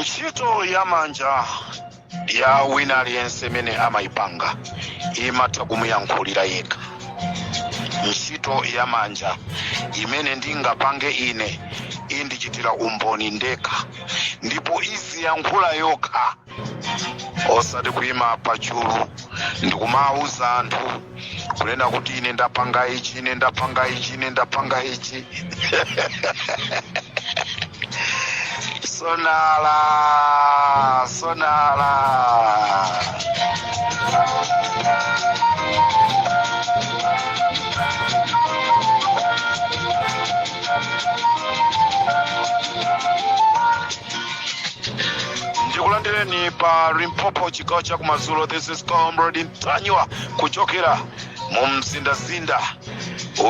ntchito ya manja ya wina aliyense imene amayipanga imatha kumuyankhulira yekha ntchito ya manja imene ndingapange ine indichitira umboni ndekha ndipo iziyankhula yokha osati kuyima pachulu ndikumawuza anthu kunena kuti ine ndapanga ichi ine ndapanga ichi ine ndapanga ichi sonala sonala ndikulandireni pa limpopo chigawo chakumadzulo this is comrade ntanyiwa kuchokera mu mzindazinda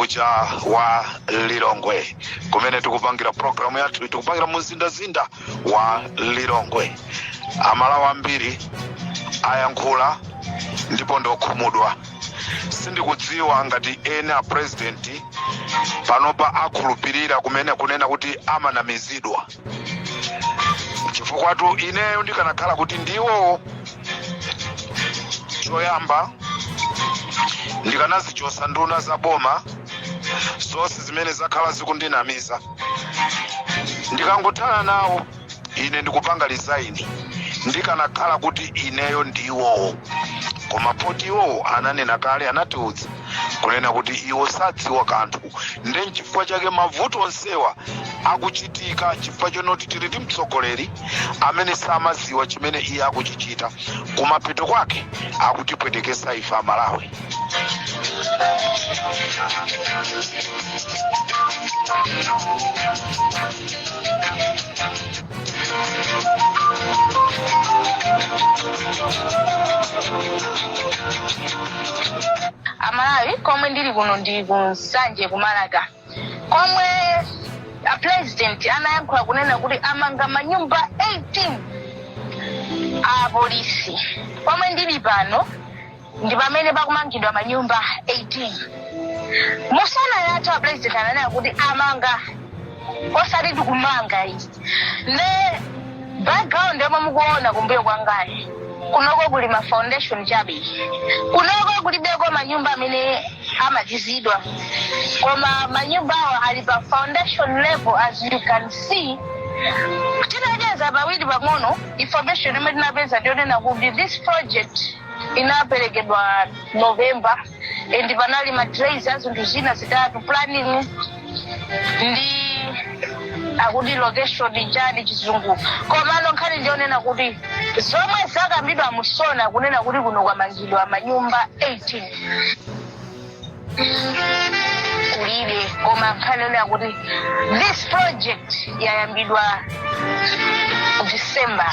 uja wa lilongwe kumene tikupangira programu yathu tikupangira mu mzindazinda wa lilongwe amalawi ambiri ayankhula ndipo ndokhumudwa sindikudziwa ngati ena a president panopa akhulupirira kumene kunena kuti amanamizidwa chifukwatu ineyo ndikanakhala kuti ndiwowo choyamba ndikanazichosa nduna za boma zonse zimene zakhala zikundinamiza ndikangothana nawo ine ndikupanga resign ndikanakhala kuti ineyo ndiwowo koma poti iwowo ananena kale anatiudza kunena kuti iwo sadziwa kanthu nde nchifukwa chake mavuto onsewa akuchitika chifukwa chonoti tili ndi mtsogoleri amene samaziwa chimene iye akuchichita kumapeto kwake akutipwetekesa ife amalawi amalawi komwe ndili kuno ndi ku nsanje kumaraka komwe a president anayankhula kunena kuti amanga manyumba 18 a polisi pomwe ndili pano ndi pamene pakumangidwa manyumba 18 mu sona yathu apresident ananena kuti amanga osati tikumanga izi ne background yomwe mukuona kumbuyo kwangayi kunoko kuli ma foundation chabe kunoko kulibeko manyumba amene amalizidwa koma manyumba awa ali pa foundation level as you can see tinacheza pawiri pang'ono information imene tinapeza ndiyonena kuti this project inaperekedwa november and panali ma delays a zinthu zina zitatu planning ndi akuti location chani chizungu komano nkhani ndiyonena kuti zomwe zakambidwa mu SONA kunena kuti kuno kwamangidwa manyumba 18 kulibe koma nkhani yonena kuti this project yayambidwa december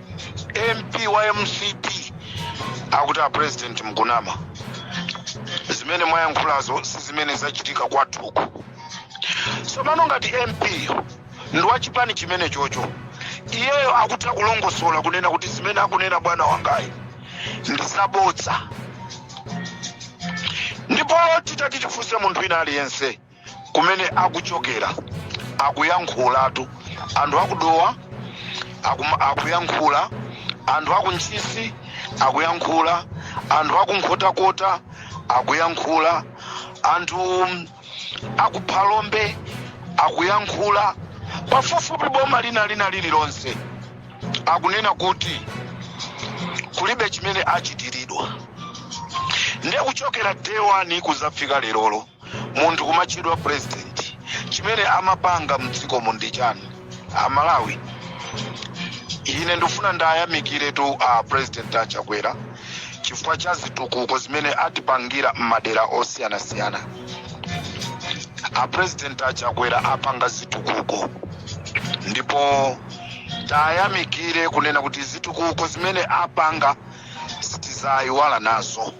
mp wa mcp akuti a president mkunama zimene mwayankhulazo si zimene zachitika kwathuku tsopano ngati mp ndi wa chipani chimene chocho iyeyo akutha kulongosola kunena kuti zimene akunena bwana wangayi ndi zabodza ndipo titati tifunse munthu wina aliyense kumene akuchokera akuyankhulatu anthu akudowa akuyankhula anthu akuntchisi akuyankhula anthu akunkhotakota akuyankhula anthu akuphalombe akuyankhula pafupifupi boma lina lina lililonse akunena kuti kulibe chimene achitiridwa ndiye kuchokera day one kuzafika lerolo munthu kumatchedwa president chimene amapanga mdzikomu ndi chani amalawi ine ndifuna ndiwayamikiretu a president a chakwera chifukwa cha zitukuko zimene atipangira m'madera osiyanasiyana a president a chakwera apanga zitukuko ndipo tiwayamikire kunena kuti zitukuko zimene apanga sitizayiwala nazo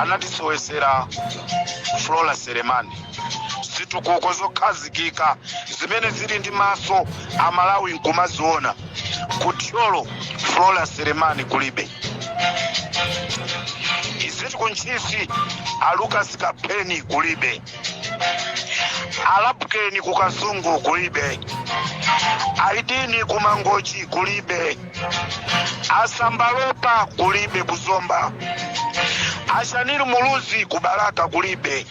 anatisowesera flora selemani zitukuko zokhazikika zimene zili ndi maso amalawi nkumaziona kuthyolo flora selemani kulibe iziti kuntchisi alukas kapeni kulibe alapukeni kukasungu kulibe aidini kumangochi kulibe asambalopa kulibe kuzomba ashanil muluzi kubalaka kulibe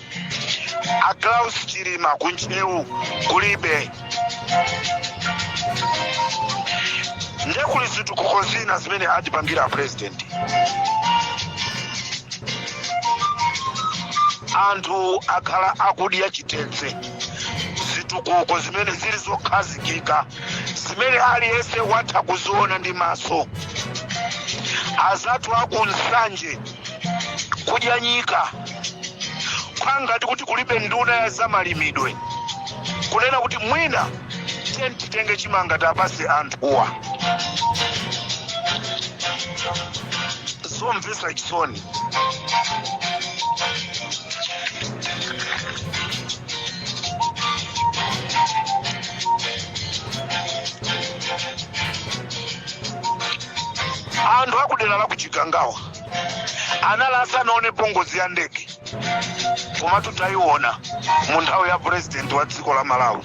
aklaus chilima kuntcheu kulibe nde kuli zitukuko zina zimene atipangira apresident anthu akhala akudya chitedze zitukuko zimene zili zokhazikika zimene aliyense watha kuziona ndi maso azathu aku Nsanje kudya nyika kungati kuti kulibe nduna ya zamalimidwe kunena kuti mwina tiyeni titenge chimanga tiwapatse anthuwa zomvetsa chisoni anthu akudera la ku Chikangawa anali asanaonepo ngozi ya ndege komatu tayiona mu nthawi ya purezidenti wa dziko la malawi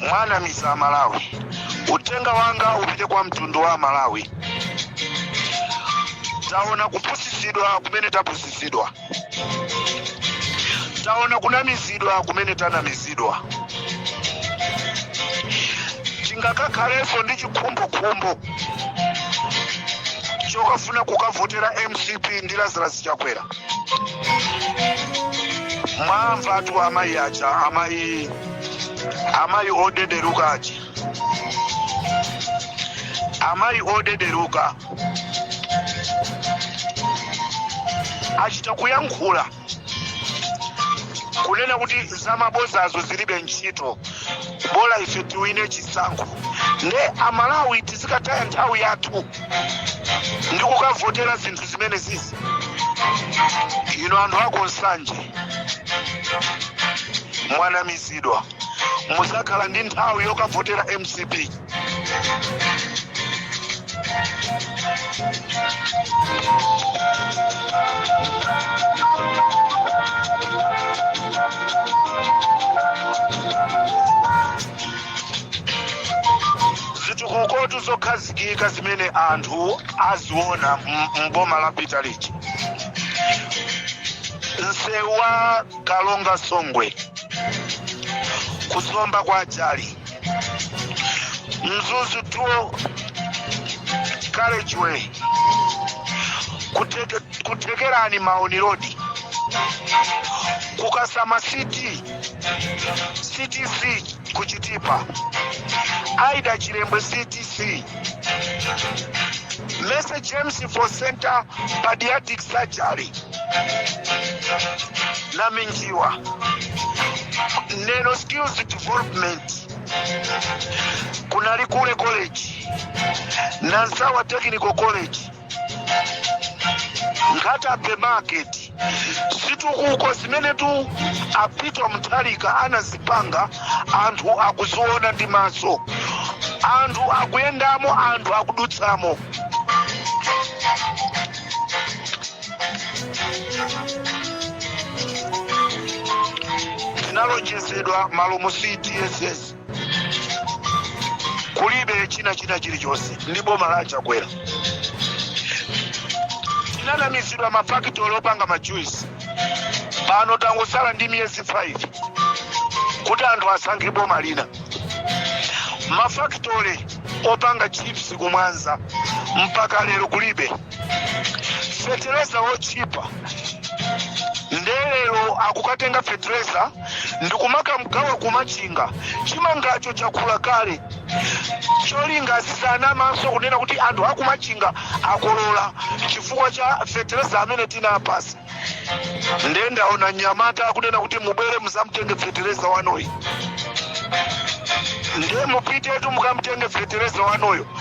mwanamiza amalawi uthenga wanga upite kwa mtundu wa amalawi taona kupusitsidwa kumene tapusitsidwa taona kunamizidwa kumene tanamizidwa tingakakhalenso ndi chikhumbokhumbo chokafuna kukavotera mcp ndi lazarus chakwera mwamvatu amayi aja amayi amayi odederuka aja amayi odederuka achita kuyankhula kunena kuti zamabozazo zilibe ntchito bola ife tiwine chisankho nde amalawi tizikataya nthawi yathu ndi kukavotera zinthu zimenezizi inu anthu aku Nsanje mwanamizidwa muzakhala ndi nthawi yokavotera mcp zitukuko zokhazi kika zimene anthu aziona m- m'boma la DPP. Msewu wa Karonga Songwe ku Zomba kwa Jali. Mzuzu 2 Carriageway kuteke, ku Thekerani Muona Road ku Kasama CTC ctc kuchitipa aida chilembwe ctc mese james for center padiatic surgery na minjiwa neno skills development kunali kule college na nsawa technical college Nkhata Bay market zitukuko zimenetu a Peter Mutharika anazipanga anthu akuziona ndi maso anthu akuyendamo anthu akudutsamo tinalonjezedwa malomu cdss kulibe china china chilichonse ndi boma la chakwera tinanamizidwa mafakitolo opanga majuisi pano tangotsala ndi miyezi 5 kuti anthu asankhe boma lina mafakitole opanga chips kumwanza mpaka lero kulibe fetereza wotchipa ndelero akukatenga fetereza ndikumakamgawa kumachinga chimangacho chakula kale cholinga azizanamanso kunena kuti anthu akumachinga akolola chifukwa cha fetereza amene tinawapatsa nde ndaona nyamata akunena kuti mubwere muzamtenge fetereza wanuyo ndiye mupitetu mukamtenge fetereza wanuyo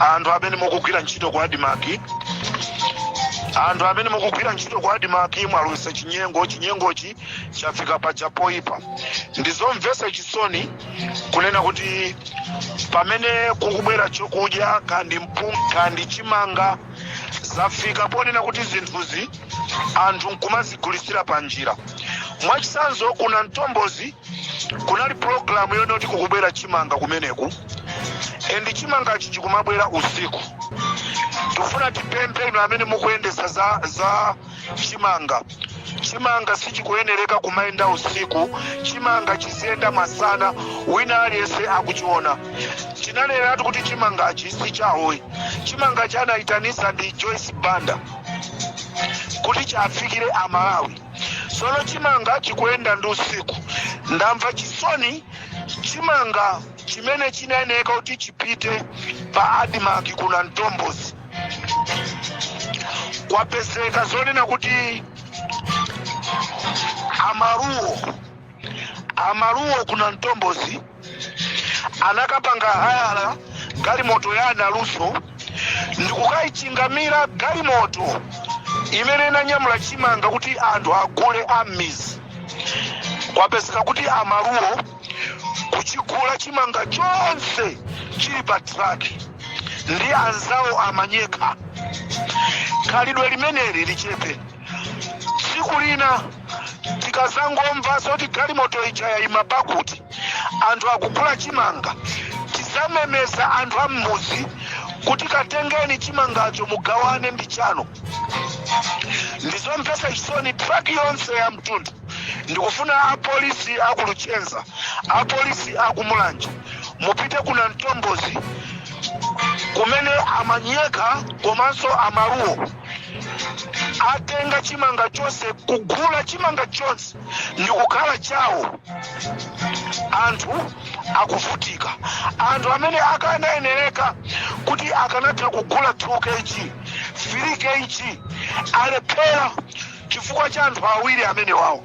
anthu amene mukugwira ntchito ku admarc anthu amene mukugwira ntchito ku admarc mwalowesa chinyengo chinyengochi chafika paja poipa ndizomvetsa chisoni kunena kuti pamene kukubwera chokudya kandi mpunga kandi chimanga zafika ponena kuti zinthuzi anthu nkumazigulisira pa njira mwachitsanzo ku nantombozi kunali pulogalamu yonena kuti kukubwera chimanga kumeneku and chimangachi chikumabwera usiku tikufuna tipemphe inu amene mukuyendesa za chimanga chimanga sichikuyenereka kumayenda usiku chimanga chiziyenda masana wina aliyense akuchiona tineneretu kuti chimangachi si chawo ayi chimangachi anayitanisa ndi joyce banda kuti chafikire amalawi Sono chimanga chikuyenda ndi usiku. Ndamva chisoni chimanga chimene chinayeneka kuti chipite pa Admarc ku Nantombozi. Kwapezeka zonena kuti amaluwo amaluwo ku nantombozi anakapanga hayala galimoto ya a naluso ndikukayichingamira galimoto imene inanyamula chimanga kuti anthu agule ammizi kwapezeka kuti amaluwo kuchigula chimanga chonse chili pa traki ndi anzawo amanyekha khalidwe limeneli lichepe tsiku lina tikazangomva zoti galimoto ija yayima pakuti anthu akugula chimanga tizamemeza anthu a m'muzi kuti katengeni chimangacho mugawane ndi chanu ndizomvetsa chisoni traki yonse ya mtundu ndikufuna apolisi akuluchenza apolisi akumulanje mupite ku nantombozi kumene amanyekha komanso amaluwo atenga chimanga chonse kugula chimanga chonse ndikukhala chawo anthu akuvutika anthu amene akanayenereka kuti akanatha kugula 2 kg 3 kg alephera chifukwa cha anthu awiri amene wawo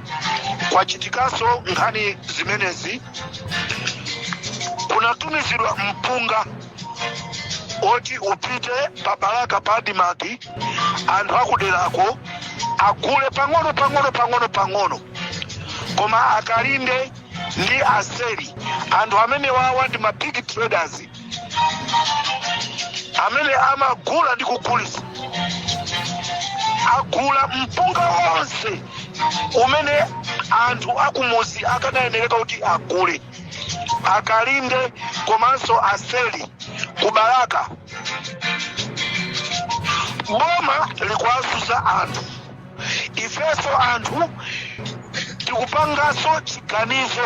kwachitikanso nkhani zimenezi kunatumizidwa mpunga oti upite pa balaka pa adimaki anthu akuderako agule pang'ono pang'ono pang'ono pang'ono koma a Kalinde ndi a Seli anthu amenewawa ndi ma big traders amene amagula ndi kugulisa agula mpunga wonse umene anthu akumuzi akanayenereka kuti agule a Kalinde komanso a Seli ku Balaka boma likuwazuza anthu ifeso anthu tikupangaso chiganizo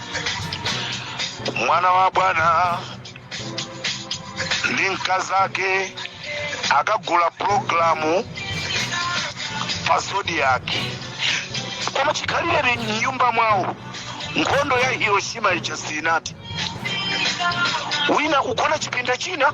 mwana wa bwana ndi mkazake akagula pulogalamu pa zodiac koma chikhalireni mnyumba mwawo nkhondo ya hiroshima ija sinathe wina kugona chipinda china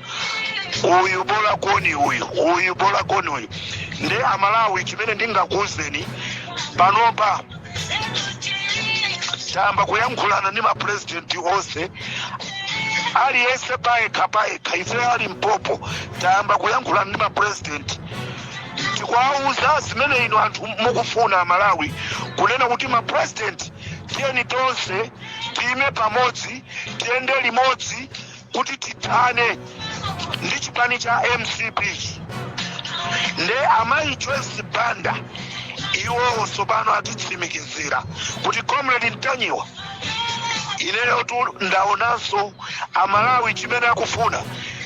uyu bola koni uyu uyu bola koni uyu nde amalawi chimene ndingakuuzeni panopa tayamba kuyankhulana ndi mapurezidenti onse aliyense payekha payekha ife a Limpopo tayamba kuyankhulana ndi mapurezidenti tikuwauza zimene inu anthu mukufuna amalawi kunena kuti mapurezidenti tiyeni tonse tiyime pamodzi tiyende limodzi kuti tithane ndi chipani cha mcp nde amayi joyce banda iwowo tsopano atitsimikizira kuti comrade mtanyiwa ineyotu ndaonanso amalawi chimene akufuna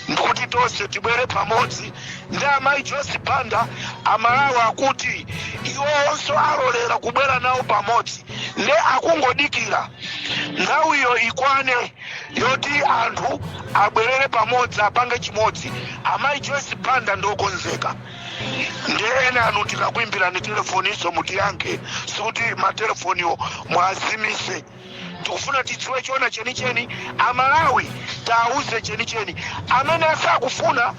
ndikuti tonse tibwere pamodzi ndi amayi joyce banda amalawi akuti iwowonso alolera kubwera nawo pamodzi nde akungodikira nthawiyo ikwane yoti anthu abwerere pamodzi apange chimodzi amayi joyce banda ndiokonzeka nde enanu tikakuimbirani telefonizo mutiyankhe sikuti matelefoniwo mwazimise tikufuna tidziwe chona chenicheni amalawi tiwauze chenicheni amene sakufuna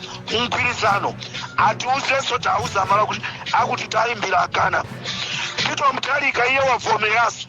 mgwirizano atiuzenso tiwauze amalawi kuti akuti tayimbira akana Peter Mutharika iye wavomeranso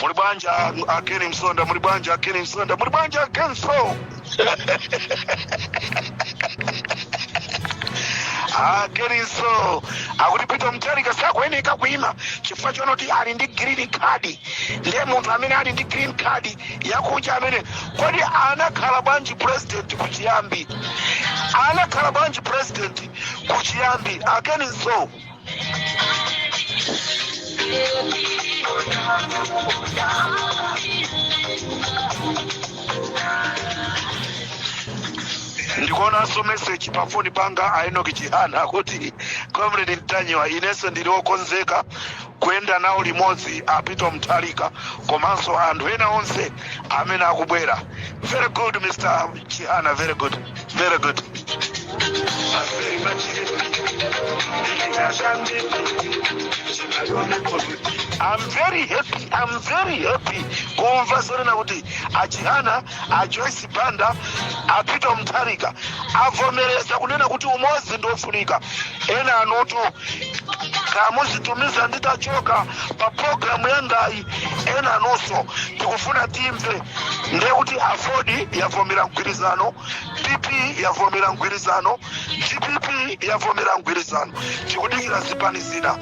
muli bwanji a- a Ken Msonda muli bwanji a Ken Msonda muli bwanji a Ken Mso a Ken Mso akuti Peter Mutharika sakuyeneka kuima chifukwa chonoti ali ndi green card ndiye munthu amene ali ndi green card yakunja amene kodi anakhala bwanji president kuchiyambi anakhala bwanji president kuchiyambi a Ken Mso ndikuonanso meseji pa foni panga a Enoch Chihana kuti comrade Ntanyiwa inenso ndili okonzeka kuyenda nawo limodzi a Peter Mutharika komanso anthu ena onse amene akubwera. Very good Mr. Chihana, very good, very good. I'm very happy, I'm very happy kumva zonena kuti a Chihana a joyce banda a peter mutharika avomereza kunena kuti umodzi ndi ofunika enanutu kamuzitumiza nditachoka pa programu yangayi enanunso tikufuna timve ndiye kuti aford yavomera mgwirizano pp yavomera mgwirizano dpp yavomera mgwirizano tikudikira zipani zina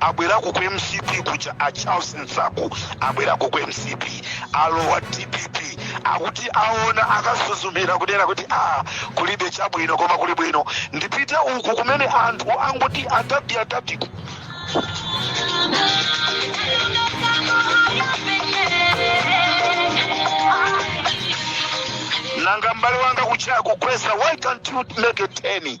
abwerako ku mcp kuja a charles msaku abwerako ku mcp alowa dpp akuti aona akasuzumira kudera kuti a kulibe chabwino koma kuli bwino ndipite uku kumene anthu angoti adadi adadiku nanga mbale wanga kuchaya kugwesa why can't you make a 10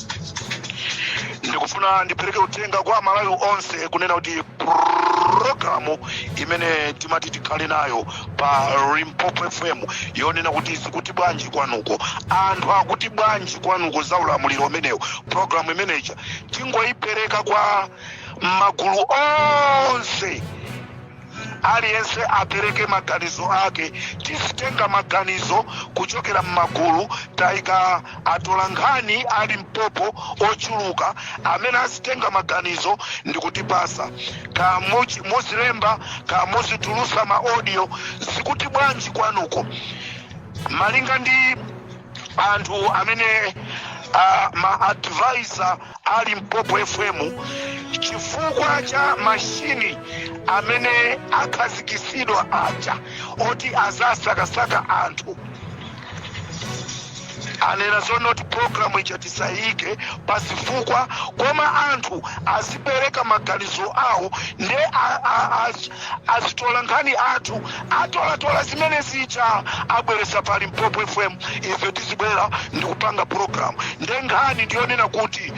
ndikufuna ndipereke uthenga kwa amalawi onse kunena kuti programu imene timati tikhale nayo pa limpopo fm yonena kuti zikuti bwanji kwanuko anthu akuti bwanji kwanuko za ulamuliro umenewu programu imeneja tingoyipereka kwa magulu onse Aliyense apereke maganizo ake. Tizitenga maganizo kuchokera mmagulu. Taika atolankhani a Limpopo ochuluka amene azitenga maganizo ndikutipasa. Kaya muzilemba kaya muzitulusa ma audio zikuti bwanji kwanuko. Malinga ndi anthu amene ah, ma advisor pa Limpopo FM chifukwa cha mashini amene akhazikitsidwa aja oti azasakasaka anthu anena zoonati programu ija tisayike pa zifukwa koma anthu azipereka maganizo awo nde a- a- a- azitola nkhani athu Atolatola zimene zija abweretsa pa Limpopo FM ife tizibwera ndikupanga program nde nkhani ndiyonena kuti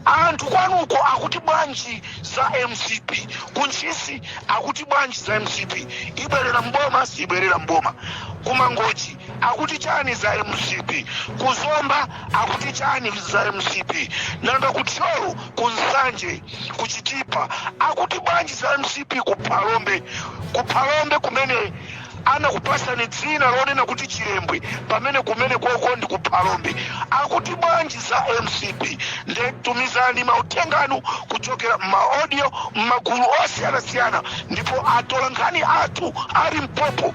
anthu kwanuko akuti bwanji za mcp ku ntchisi akuti bwanji za mcp ibwerera mboma siibwerera mboma kumangochi akuti chani za mcp ku zomba akuti chani za mcp nanga ku thyolo ku nsanje ku chitipa akuti bwanji za mcp ku phalombe ku phalombe kumene anakupasani dzina lonena kuti chilembwe pamene kumene koko ndi ku phalombe akuti bwanji za mcp nde tumizani mauthenga anu kuchokera m'maaudio m'magulu osiyanasiyana ndipo atolankhani athu a Limpopo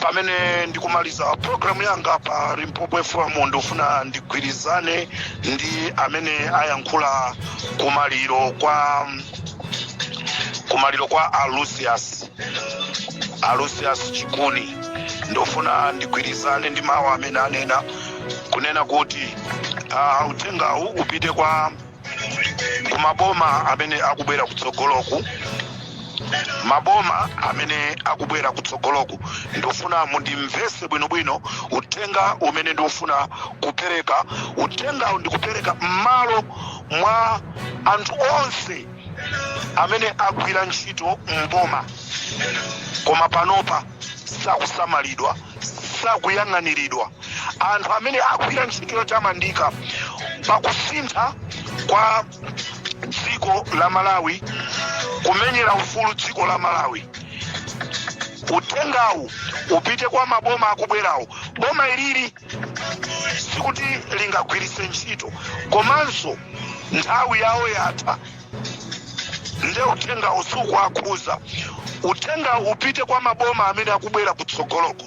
pamene ndikumaliza programu yanga pa limpopo fm ndikufuna ndigwirizane ndi amene ayankhula kumaliro kwa a Lucius a Lucius Chikuni ndofuna ndigwirizane ndi mawu amene anena kunena kuti ah, uthengawu upite kwa kumaboma amene akubwera kutsogoloku maboma amene akubwera kutsogoloku ndofuna mundimvese bwinobwino uthenga umene ndikufuna kupereka uthengawu ndikupereka m'malo mwa anthu onse amene agwira ntchito m'boma koma panopa sakusamalidwa sakuyang'aniridwa anthu amene agwira ntchito yotamandika pakusintha kwa dziko la malawi kumenyera ufulu dziko la malawi uthengawu upite kwa maboma akubwerawo boma ilili sikuti lingagwiritse ntchito komanso nthawi yawo yatha nde uthenga uwu sukuwakhudza uthenga upite kwa maboma amene akubwera kutsogoloku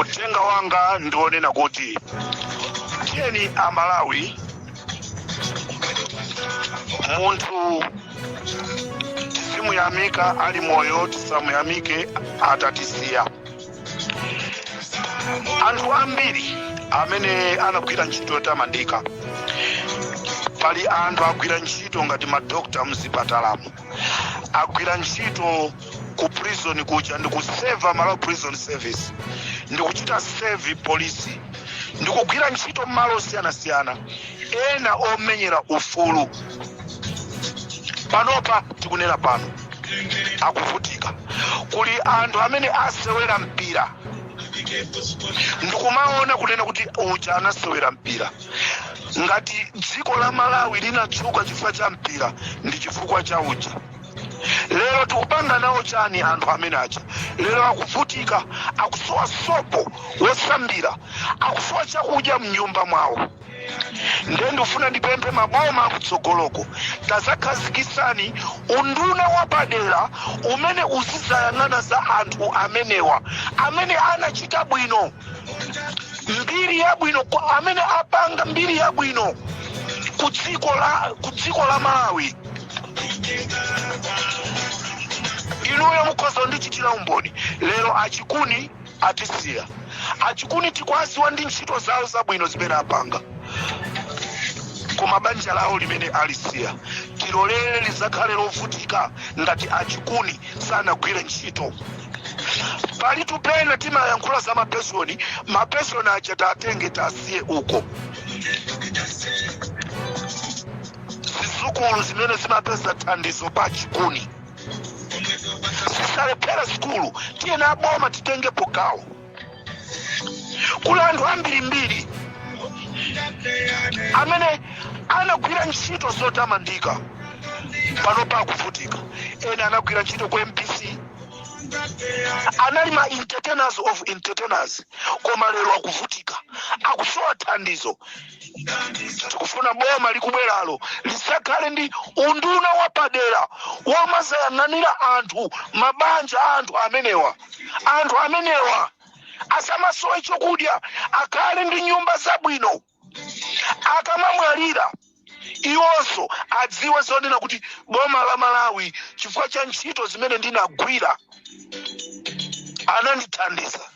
uthenga wanga ndi onena kuti tiyeni amalawi munthu tizimuyamika ali moyo tisamuyamike atatisiya anthu ambiri amene anagwira ntchito yotamandika pali anthu agwira ntchito ngati madokotala mzipatalamu agwira ntchito ku prison kuja ndikuseva malawi prison service ndikuchita serve polisi ndikugwira ntchito mmalo osiyanasiyana ena omenyera ufulu panopa tikunena pano akuvutika kuli anthu amene asewera mpira ndikumaona kunena kuti uja anasewera mpira ngati dziko la malawi linatchuka chifukwa cha mpira ndi chifukwa cha uja lero tikupanga nawo chani anthu amene aja lero akuvutika akusowa sopo wosambira akusowa chakudya mnyumba mwawo nde ndifuna ndipemphe maboma akutsogoloko tazakhazikisani unduna wapadera umene uzizayang'ana za anthu amenewa amene anachita bwino mbiri yabwino amene apanga mbiri yabwino ku dziko la ku dziko la malawi inuyo mukhoza kundichitira umboni lero achikuni atisiya achikuni tikwaziwa ndi ntchito zawo zabwino zimene apanga koma banja lawo limene alisiya tisalole lizakhale lovutika ngati achikuni sanagwire ntchito palitu pena timayankhula za mapenshoni mapenshoni aja tatenge tasiye uko zizukulu zimene zimapeza thandizo pa chikuni zisalephere sukulu tiyeni aboma titengepo gawo kuli anthu ambirimbiri amene anagwira ntchito zotamandika panopa akuvutika ena anagwira ntchito ku mbc anali ma entertainers of entertainers koma lero akuvutika akusowa thandizo tikufuna boma likubweralo lizakhale ndi unduna wapadera womazayang'anira anthu mabanja a anthu amenewa anthu amenewa asamasowe chokudya akhale ndi nyumba zabwino akamamwalira iwonso adziwe zonena kuti boma la malawi chifukwa cha ntchito zimene ndinagwira anandithandiza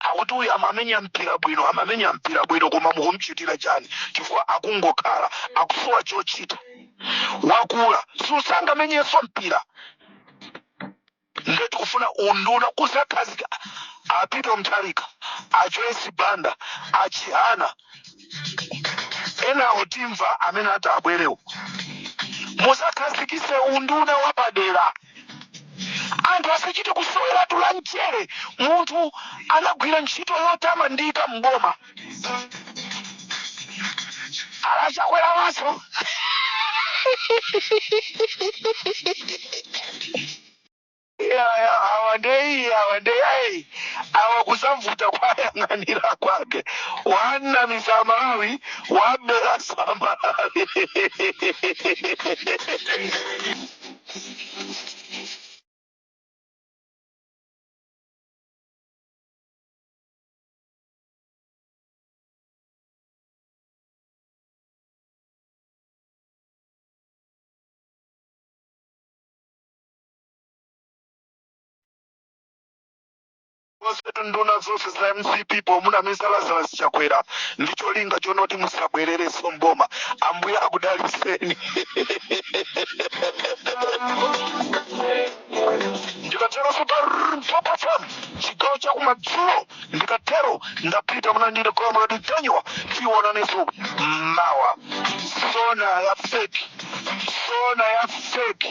akuti uyu amamenya mpira bwino amamenya mpira bwino koma mukumchitira chani chifukwa akungokhala akusowa chochita wakula sangamenyenso mpira nde tikufuna unduna kuzakhazika apite mutharika ajoyce banda achihana enawo timva amene ati abwerewo muzakhazikise unduna wapadera anthu asachite kusoweratu la mchere munthu anagwira ntchito yotamandika m'boma ala chakwera maso Eya awa nde iyi awa nde ai awa kuzamvuta kwa yang'anira kwake wanamiza amalawi wabelasa amalawi onsetu nduna zonse za mcp pomunamiza lazala chakwera ndi cholinga chonoti muzabwererenso mboma ambuye akudaliseni ndikatero super fm chigawo chakumadzulo ndikatero ndapita munandire comrade ntanyiwa tiwonanenso mawa sona ya feki sona ya feki